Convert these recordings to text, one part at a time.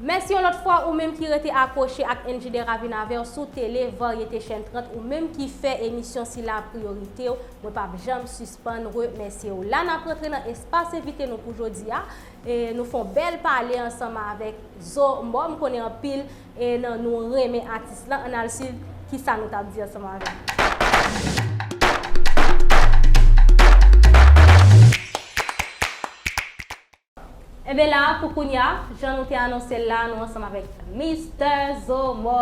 Mèsi yon lòt fwa ou menm ki rete akwoche ak NJ Deravin avèw sou tele varyete chèn 30 ou menm ki fè emisyon sila priyoritew mwen pap janm sispann remèsyew la nap rantre nan espas envite nou pou jodia nou fon bèl pale ansanm avèk Zo Mò m konnen anpil E nan nou renmen atis lan, ann al suiv kisa nou tap di ansanm avèl. Enben la pou kounya, jan nou te anonsel la, nou ansanm avèk Mistè Zomò.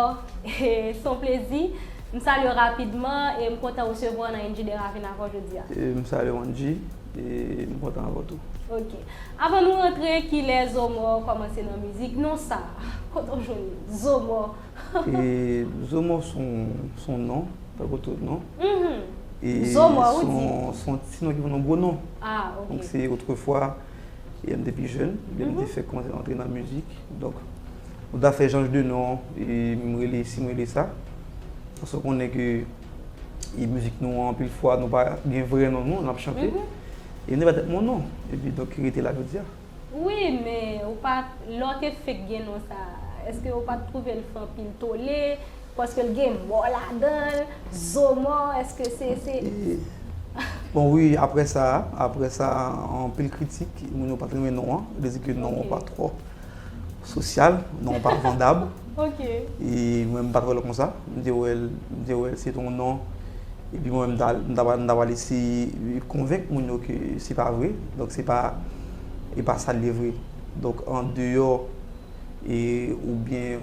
Son plezi. M salye w rapidman e m kontan resevwa w nan NJ Deravin avèw jodia. M salye w Angie e m kontan avèw tou. Ok. Avan nou rantre kilè zomò kòmanse nan mizik non sa kote w jwenn zomò. Zomò son non tankou tout non e son ti non ki vin yon gwo non donk se otrefwa lè m te pi jèn lè m te fèk kòmanse rantre nan mizik donk m ta fè janj de non e m rele si m rele sa paske w konnen ke E mizik nou an, anpil fwa, nou pa gen vrè non nou, nap chante. E nou pa tèt moun nou. E pi donk ki rete la jodi a. Wi, men ou pa, lè w te fenk gen non sa a, eske ou pat twouve l fè anpil tole? Paske l gen mò ladan l, zo mò, eske se, se. Bon wi, aprè sa a, aprè sa a, anpil kritik, moun yo pat renmen non an, yo te di ke non an pa twò. Sosyal, non pa vandab. Ok. E mwen m pa t wè l kon sa. M te wè l, m te wè l se t yon non. E pi mwen m ta, m ta pral, m ta pral eseye konvenk moun yo ke se pa vre. Donk se pa, e pa sa l ye vre. Donk an deyò e oubyen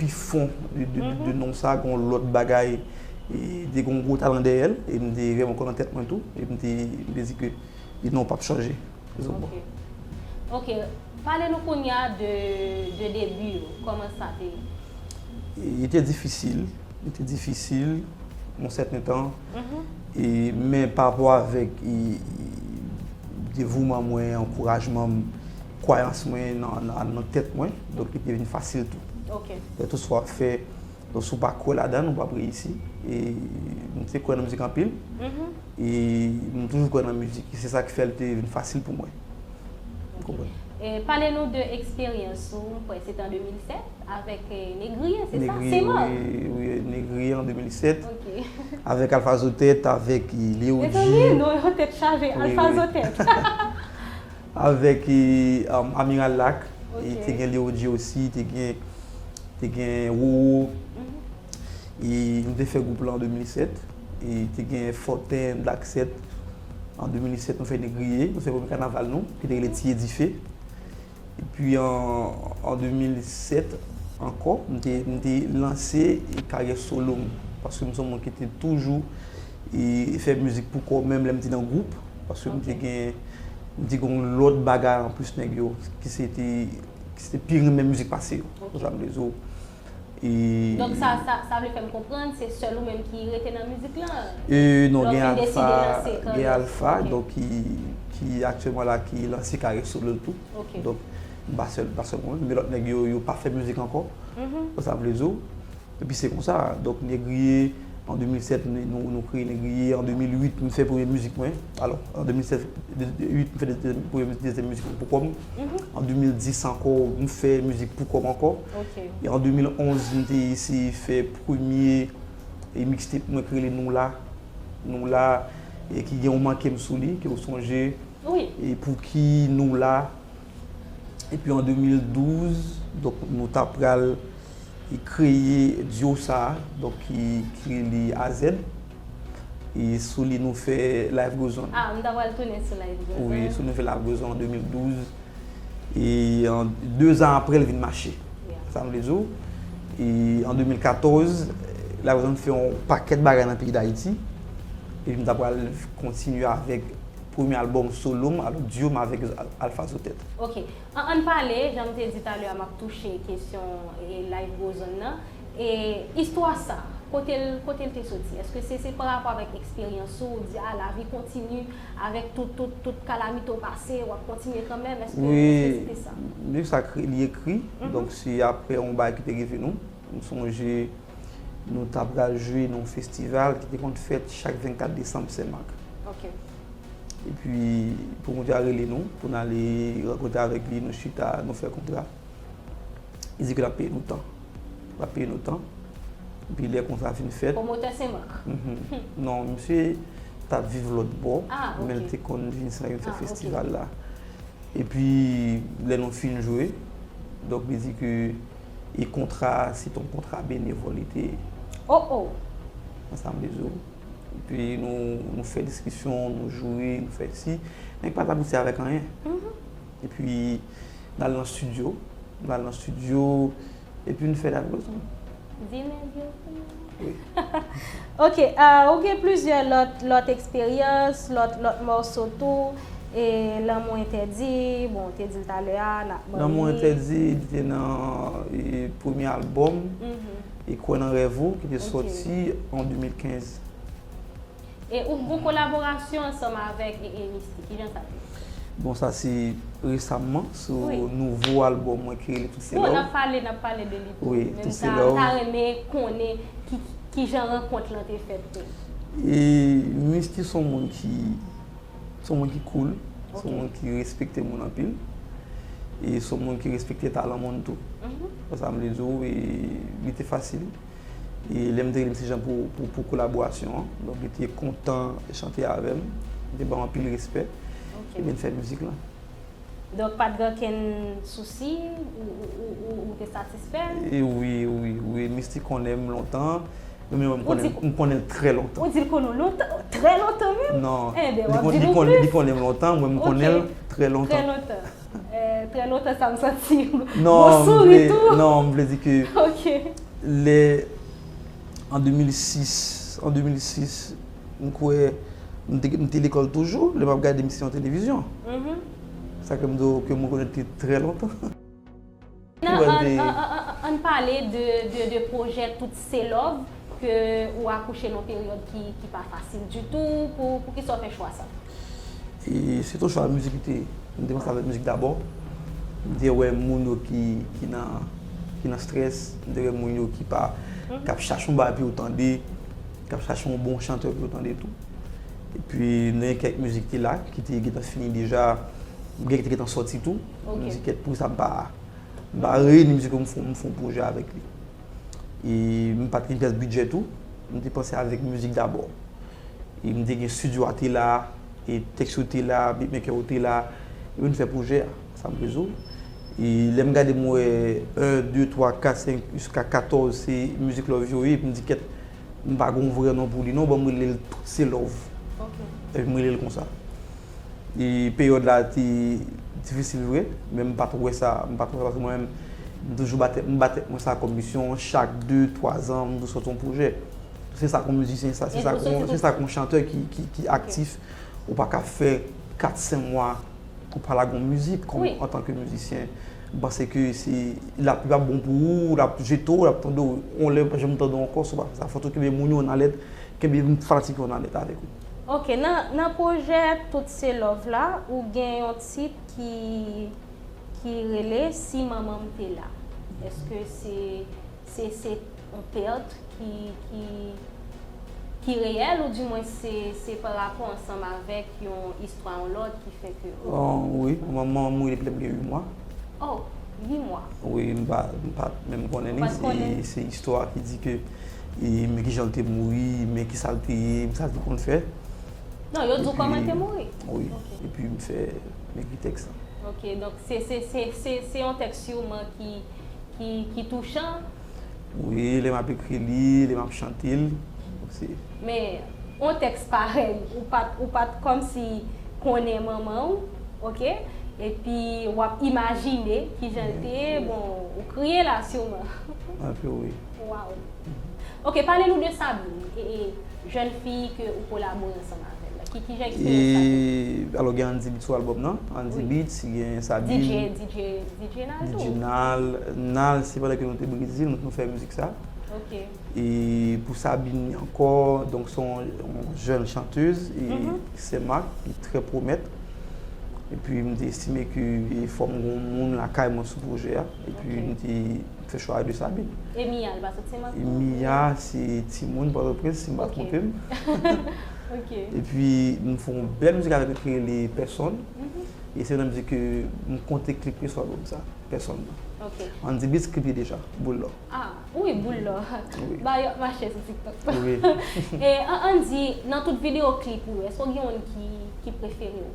pi fon de non sa gen yon lòt bagay. E te gen yon gwo talan dèyè l. E m te vreman kwè nan tèt mwen tou. E m te, m te di ke non pa p chanje. Zobò. Ok, pale nou kounya de debi yo, kòman sa te ye? Li te difisil, li te difisil yon sèten tan, men pa rapò avèk devouman mwen, ankourajman m, kwayans mwen nan tèt mwen, donk li te vin fasil tou. Ok. Kèlkeswa w ap fè. Donk si w pa kwè ladan l, ou pap reyisi. E m te kwè nan mizik anpil. E m toujou kwè nan mizik. E se sa ki fè l te vin fasil pou mwen. Ou konprann? E pale nou de eksperyans ou, m kwè se te an 2007, avèk Negriye, se sa? Negriye, wi. Wi, Negriye an 2007. Ok. Avèk Alfa Zo Tèt, avèk Leo G. Mezanmi, non yo tèt chaje. Alfa Zo Tèt. Avèk Amiral Lak, te gen Leo Jeossy, te gen te gen Roro. E nou te fè gwoup lan an 2007. E te gen Fòten, Black 7. An 2007 nou fè Negriye. Nou fè premye kanaval nou ki te rele Tiye Dife. Epi an 2007 ankò, m te lanse karyè solo m. Paske m se yon moun ki te toujou E fè mizik pou kò menm lè m te nan gwoup, paske m te gen, m te gen yon lòt bagay anplis nèg yo ki se te, ki se te pi renmen mizik pase yo, ou konprann sa m vle di w. E. Donk sa, sa, sa vle fè m konprann se sèl ou menm ki rete nan mizik lan? E non, gen Alpha, gen Alpha donk ki, ki aktyèlman la ki lanse karyè solo l tou. Donk m pa sèl, m pa sèl mwen menm, men lòt nèg yo, yo pa fè mizik ankò, ou konprann sa m vle di w. Epi se konsa, donk Negriye, an 2007 nou kreye Negriye, an 2008 m fè premye mizik mwen, alò an 2007, 2008 m fè premye mizik, dezyèm mizik mwen poukò m, an 2010 ankò m fè mizik poukò m ankò, e an 2011 m te eseye fè premye mixtape mwen ki rele Nou La, Nou La, ki gen yon manke m sou li, ke w sonje, e Pouki Nou La. Epi an 2012, donk nou ta pral kreye duo sa, donk ki rele AZ. E sou li nou fè Life Goes On. Ah, m ta pral tounen sou Life Goes On. Wi, sou li nou fè Life Goes On an 2012. E an 2 zan aprè l vin mache. Sa m vle di w. E an 2014, Life Goes On fè yon pakèt bagay nan peyi Dayiti. Epi m ta pral kontinye avèk. premye album solo m alo duo m avek Alpha Zotet. Ok an ann pale janm te di talè a map touche kesyon life goes on nan e istwa sa kote l kote l te soti eske se se parapò avèk eksperyans ou ou di a lavi kontini avèk tout tout tout kalamite ou pase wap kontinye kanmèm eske eske se te sa. Wi liv sa li ekri donk se aprè yon bagay ki te rive nou m sonje nou ta pral jwe nan yon festival ki te konn fèt chak 24 desanm Sen Mak. E pi pwomotè a rele nou pou n ale rankontre avèk li, nou chita, nou fè kontra. Li di ke l ap peye nou tan. L ap peye nou tan. E pi lè kontra a fin fèt. Pwomotè Sen Mak? Non, misye t ap viv lòtbò. A, ok. Men l te konn vin Sen Mak vin fè festival la. E pi lè nou fin jwe, donk li di ke. E kontra a se ton kontra benevòl li te ye. Oh oh! Mwen sa m te di w. Epi nou fè diskisyon, nou joure, nou fè si. Men ki pa t abouti avèk anyen. Epi n al nan stidyo. Nou al nan stidyo epi nou fè dat bòzon. Di men, di yo. Ok, ou gen plizyè lòt, lòt eksperyans, lòt, lòt mòso tou, e Lanmou Entèdi, bon ou te di l talè a, n ap ban li. Lanmou Entèdi li te nan premye albòm, Kwè nan rèv ou, ki te sòti an 2015. E ou gon kolaborasyon ansanm avèk Misty, ki jan sa te ye? Bon sa se resamman sou nouvo albòm mwen ki rele Tout se love. Bon n ap pale, n ap pale de li tou. Men m ta renmen konnen ki jan rankont lan te fèt tou. E Misty s on moun ki, s on moun ki koul, s on moun ki respekte moun anpil. E s on moun ki respekte talan moun tou. Wè sa m vle di w? E li te fasil. E lè m te li mesi jan pou kolaborasyon an. Donk li te kontan chante avè m. Li te ban m anpil respè. Epi n fè mizik lan. Donk pa t gen okenn sousi? Ou te satisfè? Wi, wi, wi. Misty konnen m lontan. Ou menm wè m konnen l trè lontan. Ou di l konnen w lontan? Trè lontan menm? Non. Li konnen m lontan, mwen m konnen l trè lontan. Trè lontan. Trè lontan sa m santi yon souri tou. Non, m vle di ke lè an 2006, an 2006, m kwè m te lekòl toujou, lè m ap gade misyon televizyon. Sa ke m di w ke m rekonèt ke trè lontan. Nan ann pale de projè tout se love ke ou akouche nan peryòd ki pa fasil ditou pou kisa ou fè chwa sa? Se ton chwa mizik lite m te panse avèk mizik dabò m te wè moun yo ki nan strès m te wè moun yo ki pa kap chache yon bagay pou yo tande kap chache yon bon chantè pou yo tande tou epi m te gen kèk mizik ki te la ki te gentan fini deja gen ki te gentan sòti tou. Mizik et pou sa m pa m pa reyini mizik yo m fon m fon pwojè avèk li. E m pa t gen pyès bidjè tou. M te panse avèk mizik dabò. E m te gen studio a te la, e tèks yo te la, beatmaker yo te la. Epi m fè pwojè a, Sam Rezo. E lè m gade m wè 1, 2, 3, 4, 5 jiska 14 se mizik love yo ye epi m di kèt m pa gen yon vrè non pou li non ban m rele l Tout se love. Epi m rele l konsa. E peryòd la te difisil vre, men m pa t wè sa, m pa t wè sa paske mwen menm m toujou ba tèt, m ba tèt mwen sa kòm misyon chak de, twa zan m dwe sòti yon pwojè. Se sa k yon mizisyen, se sa k yon chantè ki aktif, ou pa ka fè kat, sen mwa ou pa lage yon mizik kòm antanke mizisyen. M panse ke se, l ap bon pou ou, l ap jete w, l ap tande w yon lè, ou pa janm tande w ankò si w pa fè sa. Fòk ou kenbe moun yo nan alèt, kenbe fanatik yo nan alèt avèk ou. Ok nan nan pwojè tout se love la ou gen yon tit ki ki rele si manmanm te la eske se se se yon pèrt ki ki ki reyèl ou di mwen se se pa rapò ansanm avèk yon istwa yon lòt ki fè ke ou. Wi manmanm mouri depi lèm gen 8 mwa. Oh. 8 mwa. Wi, m pa menm konnen li. Ou pat konnen? E se istwa ki di ke e men kijan l te mouri, men kisa l te ye, men sa l te konn fè. Non, yo di w kòman l te mouri? Wi. Epi m fè, m ekri tèks la. Ok, donk se yon tèks siouman ki touchan. Wi, lè m ap ekri li, lè m ap chante l osi. Men, yon tèks parèy ou pa t, ou pa t kòmsi konnen manman w, oke, epi w ap imajine ki jan l te, bon, ou kriye la siman. Anpil wi. Waww. Oke, pale nou de Sabine. jèn fi ke ou kolabore ansanm avèl la? Ki jan eksperyans sa te ye? Alò gen Andy Beat sou albòm nan, Andy Beat, gen Sabine. DJ, DJ, DJ Nal tou? DJ Nal, Nal se pandan ke nou te Brezil nou fè mizik sa. Ok. E pou Sabine ni ankò, donk se yon jèn chanteuz, e sè Marc ki trè pwomèt. E pi m te estime ke fò m gen yon moun lakay mwen sou pwojè a. E pi m te. Fè chwa a de sa bi. E Mia li pa sot senmak tou? Mia se timoun pòtoprens si m pa twonpe m. Ok. E pi m fè yon bèl mizik avèk li ki rele pèsòn. E se nan mizik ke m konte klip ke sou albòm sa, pèsòn nan. Ok. Andy Beats klip li deja, Boul lò. A, wi Boul lò. Ba yo ap mache sou tiktok. Wi. E Andy, nan tout videyo klip ou yo, èske ou gen youn ki prefere ou?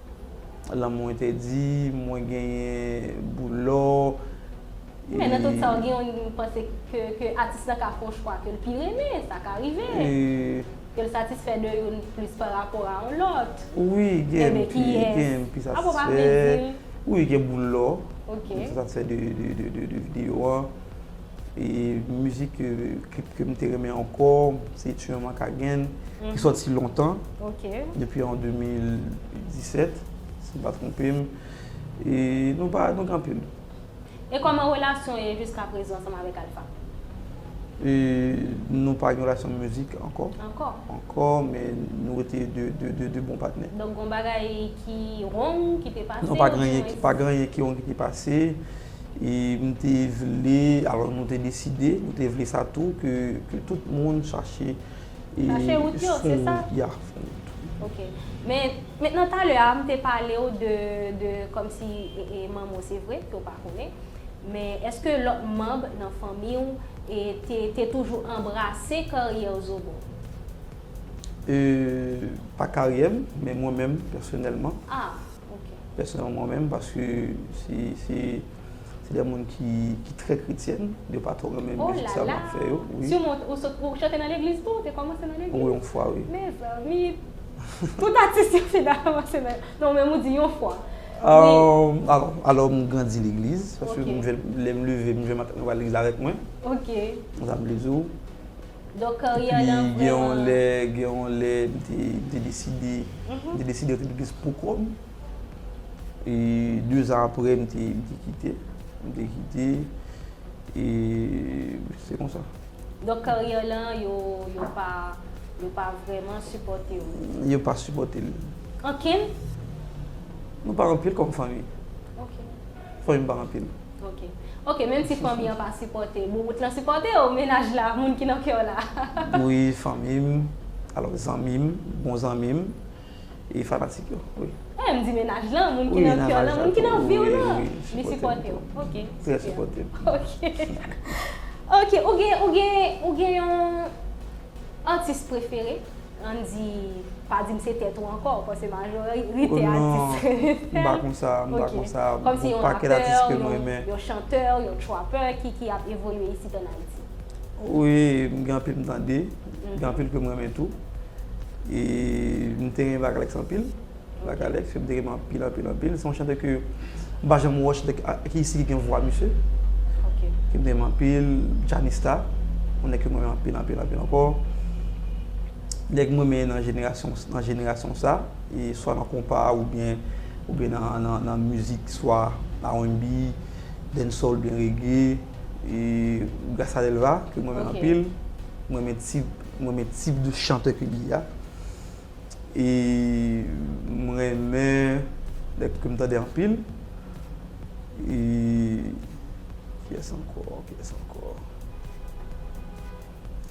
Lanmou entèdi, mwen genyen boul lò, e. Men nan tout sa w gen yon li m panse ke atis la ka fè yon chwa ke l pi renmen, sa ka rive. E. Ke l satisfè de youn plis pa rapò a yon lòt. Wi, gen m ki satisfè. Apa w pa vle di l? Wi, gen boul lò. Ok. M satisfè de videyo an. E mizik, klip ke m te renmen ankò, se Tu es ma Kagen, ki soti lontan, depi an 2017, si m pa twonpe m. E nou pa, nou gen anpil. E kòman relasyon w ye jiskaprezan ansanm avèk Alfa? E nou pa gen relasyon mizik ankò. Ankò? Ankò, men nou rete de bon patnè. Donk gen yon bagay ki wrong, ki te pase? Non, pa gen anyen ki wrong ki te pase. E m te vle, alò nou te deside, nou te vle sa tou ke tout moun chache e fon wout. Chache wout yo, se sa? Ya, fon wout. Ok. Men, men nan talè a, m te pale w de, de kòmsi e manman w se vre, ke w pa konnen. Men, èske lòt manb nan fanmi w e te, te toujou anbrase karyè w zobo? E, pa karyè m, men mwen menm, pèsonèlman. Ah! Ok. pèsonèlman mwen menm paske se se de moun ki ki trè kretyèn, yo pa twò renmen mizik sa mwen ap fè yo. Olala! Ti moun ou sot ou chante nan legliz tou? Ou te kòmanse nan legliz? Wi yon fwa wi. Mezanmi! Tout atis yo fina kòmanse nan non menm ou di yon fwa. Alò alò m grandi legliz paske lè m leve m jwenn matant mwen pral legliz avèk mwen. Ok. Konsa m vle di w. Donk karyè lan vreman. Pi gen yon lè, gen yon lè m te, m te deside, m te deside rete plis pou kò m. E dezan aprè m te, m te kite, m te kite e se konsa. Donk karyè lan yo, yo pa, yo pa vreman sipòte w. Yo pa sipòte l. Ankenn? Nou pa anpil kòm fanmi. Ok. fanmi m pa anpil. Ok ok menm si fanmi an pa sipòte boubout lan sipòte w mennaj la moun ki nan kè w la. Wi fanmi m alò zanmi m bon zanmi m e fanatik yo wi. Eeh m di mennaj lan moun ki nan kè w lan moun ki nan vi w lan li sipòte w ok super ok ok ou gen ou gen ou gen yon atis prefere. Andy pa dim se tèt ou ankò ou panse majorite atis kreyòl non m pa konsa m pa konsa gon pakèt atis kem renmen yon chantè yon trapper ki ap evolye isit an ayiti wi m gen anpil m tande gen anpil kem renmen tou e m te renmen vagalex anpil. La galette fèm te renmen anpil anpil anpil se yon chantè ke m pa janm wè chantè ki isi ki gen vwa misye ke m te renmen anpil Djanista yon nèg ke m renmen anpil anpil anpil ankò nèg m renmen nan jenerasyon nan jenerasyon sa e swa nan konpa oubyen oubyen nan mizik swa RNB Dancehall oubyen Reggae e Gracia Delva ke m renmen anpil m renmen tip m renmen tip de chantè ke li a. e m renmen lè ke m tande anpil e kiyès ankò kiyès ankò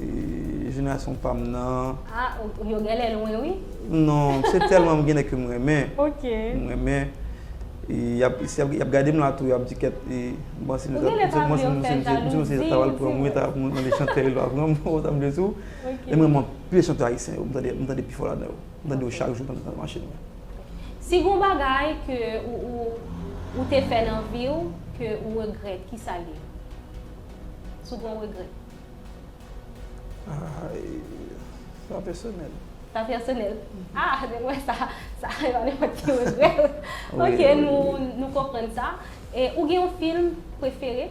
e jenerasyon pa m nan a yo genlè lwen wi non se tèlman m gen nèg ke m renmen ok m renmen e yap si yap gade m la tou yap di kèt e m panse m se ta pral pran m wi ta mande chantè yo ta pran m ou ta mande tou E m renmen anpil chante ayisyen yo. M tande m tande pi fò ladan yo. M tande yo chak jou pandan m nan machin mwen. Si gon bagay ke ou ou ou te fè nan vi w ke ou regrèt ki sa l ye? Si w gon regrèt. Ay sa pèsonèl. Sa pèsonèl. A depi m wè sa sa e pa nenpòt ki regrèt. Ok nou nou konprann sa. E ou gen yon film prefere?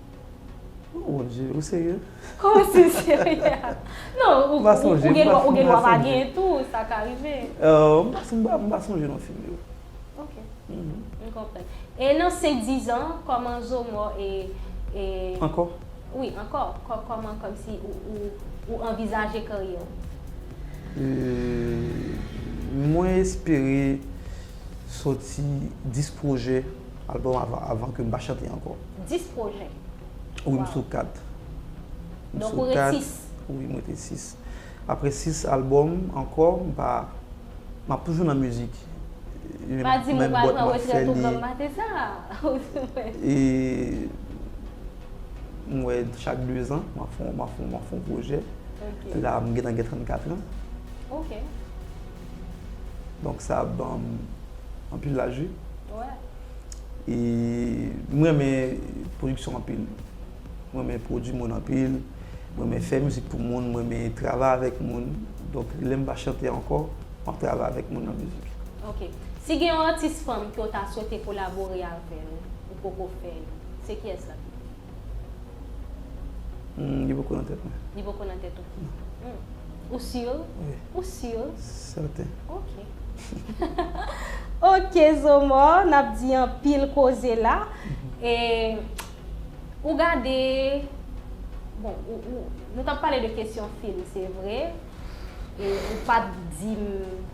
Oh mon Dieu, ou serye? Kòman si m serye? Non, ou gen dwa ou gen dwa pa gen tou, sa ka rive. M pa sonje, m pa sonje non fim yo. Ok, m konprann. E nan senk dizan, kòman Zomò e e. Ankò? Wi, ankò. Kòman kòmsi ou anvizaje karyè w? Mwen espere soti 10 pwojè, albòm avan ke m pa chante ankò. 10 projè? Waww. Wi m sou 4. Donk ou ret 6? Wi m rete 6. Apre 6 album ankò m pa, m ap toujou nan mizik. Pa di m ou pral pran retrèt ou blan mate sa. E m wè chak 2 zan m ap fon projè. La m gentan gen 34 lan. Ok. Donk sa ap ban m anpil laji. E m renmen pwodiksyon anpil. M renmen pwodi moun anpil. M renmen fè mizik pou moun. M renmen travay avèk moun. Donk lè m pa chante ankò, m ap travay avèk moun nan mizik. Ok. Si gen yon atis fanm ke w ta swete kolabore avè l, ou poko fè l, se kiyès l ap ye? Humm li poko nan tèt mwen. Li poko nan tèt ou? Non. Ou sur? Wi. Ou sur? Sèten. Ok. Ok Zomò, n ap di anpil koze la. E ou gade, bon, nou t ap pale de kesyon fim se vre. e ou pat dim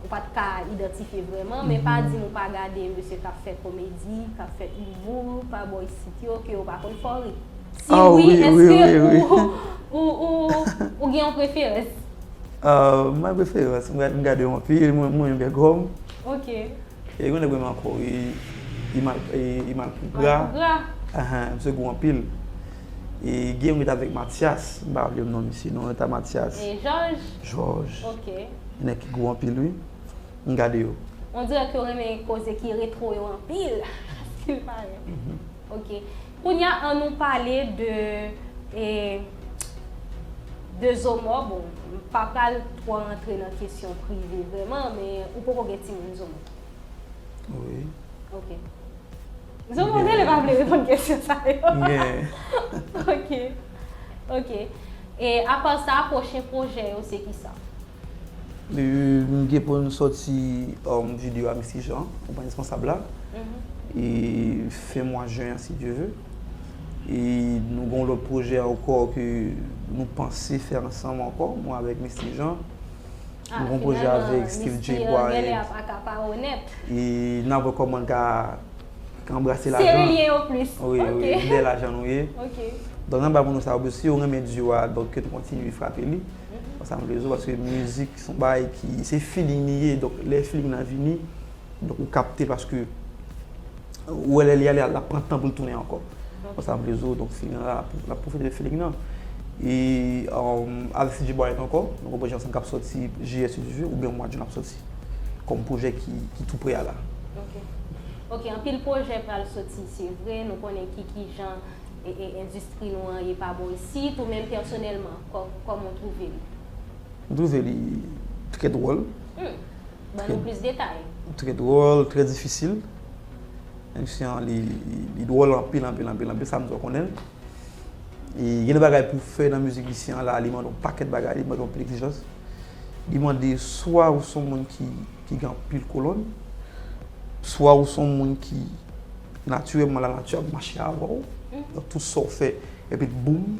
ou pat ka idantifye vreman men pa dim ou pa gade mesye kap fè komedi kap fè humour pa bò isit yo ke ou pa konn fò ri si wi eske ou ou gen yon preferans mwen preferans mwen gade yon pi mwen mwen gen gòm ok e yon nèg mwen renmen anko e e imal pougra ahah misye gou anpil. E gen yon ki t avèk Matyas, m pa raple m non misye non, yo t a Matyas. E Jòj? Jòj. Ok. Gen nèg ki gou anpil wi. M gade yo. On dirè ke yo renmen koze ki retwo yo anpil, si l pare. Ok. Kounye a an nou pale de e de Zomò. Bon, m pa pral twò rantre nan kesyon prive vrèman men ou poko gen timoun Zomò? Wi. Ok. Zo m onze li pa vle reponn kesyon sa yo. Ok. Ok. E apa sa, pwochen pwojè yo se kisa? M gen pou m soti video a Misty Jean, ou pran responsab la. E fen mwa jen an si Dye ve. E nou gen yon lòt pwojè ankò ke nou panse fè ansanm ankò, mwen avèk Misty Jean. Mwen konpoze avèk Steve Jay Bryant e n ap wè kòman n ka anbrase lajan dèyè lajan nou ye. Donk nan bay moun nou sa yo, si yo renmen duo a, donk yo kontinye frape li. Se sa m vle di yo paske mizik se yon bagay ki se feeling li ye. Donk lè feeling nan vini, donk ou kapte paske. Ou wè lè li ale lap pran tan pou l tounen ankò. Bon sa m vle di w donk Filignan la lap pwofite de Filignan. E avèk CG Bryant ankò nou gen pwojè ansanm k ap sòti jiyè si Dye ve oubyen mwa Jun ap sòti kòm pwojè ki tou pre a la. Ok ok anpil pwojè pral sòti se vre nou konnen ki kijan endistri nou an ye pa bon isit ou menm pèsonèlman kòman w twouve li? M twouve li trè dwòl Ban nou plis detay. Trè dwòl, trè difisil. Emisyon an li dwòl anpil, anpil, anpil, anpil, sa m di w konnen l. E gen de bagay pou w fè nan mizik Lucien an la, li mande yon pakèt bagay, li mande yon anpil egzijans. Li mande swa ou son moun ki gen anpil kolòn, swa ou son moun ki natirèlman lanati ap mache avè w, donk tout sa w fè epi boum.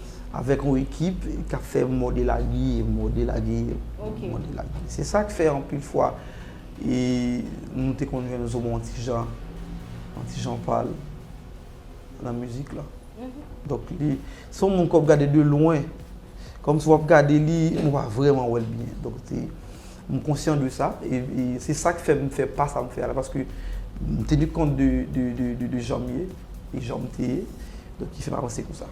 avèk yon ekip k ap fè mòde lage, mòde lage, mòde lage. Se sa k fè anpil fwa nou te konn jwenn Zomo an ti jan, an ti jan pa l nan mizik la. Donk li se yon moun ke w ap gade de lwen. Kòmsi w ap gade li, ou pa vrèman wè l byen. M konsyan de sa, e se sa k fè m fè pa sa m fè a la, paske m teni kont de jan m ye, e jan m te ye, donk ki fè m avanse konsa.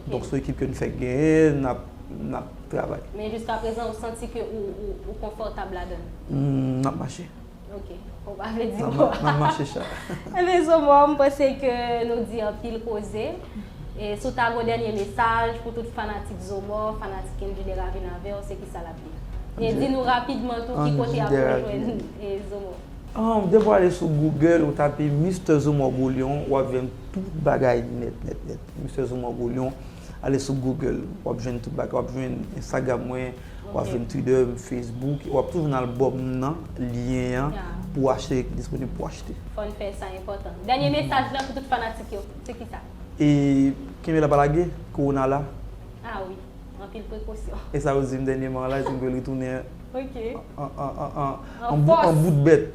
Donk se yon ekip ke n fèk genyen, n ap travay. Men jiskaprezan ou santi ke ou konfòtab ladan l? M ap mache. Ok, ou pa vle di mwa. Map mache cha. Ebyen sou mwa m panse ke nou di anpil koze. E si w ta gon dènye mesaj pou tout fanatik Zomò, fanatik Endy Deravine avèw se kisa lap di? E di nou rapidman tou ki kote yap ka jwenn Zomò. Depi w ale sou Google ou tape Mister Zomò Golion wap jwenn tout bagay nèt nèt nèt. Mister Zomò Golion. Ale sou Google, wap jwenn tout bagay, wap jwenn Instagram mwen, wap jwenn Twitter, Facebook, wap tou jwenn album nan, lyen an pou achte ki disponib pou achte. Fòn fè sa enpòtan. Dènye mesaj lan pou tout fanatik yo, se kisa? E kenbe la pa lage, Corona la. Ah wi, anpil prekosyon. E sa yo dim dènyeman an la, yo dim ke li tounen an bout bèt.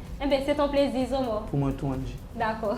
Enben, se t on plezi, Zomo. Pou mwen tou, Angy. Dakò.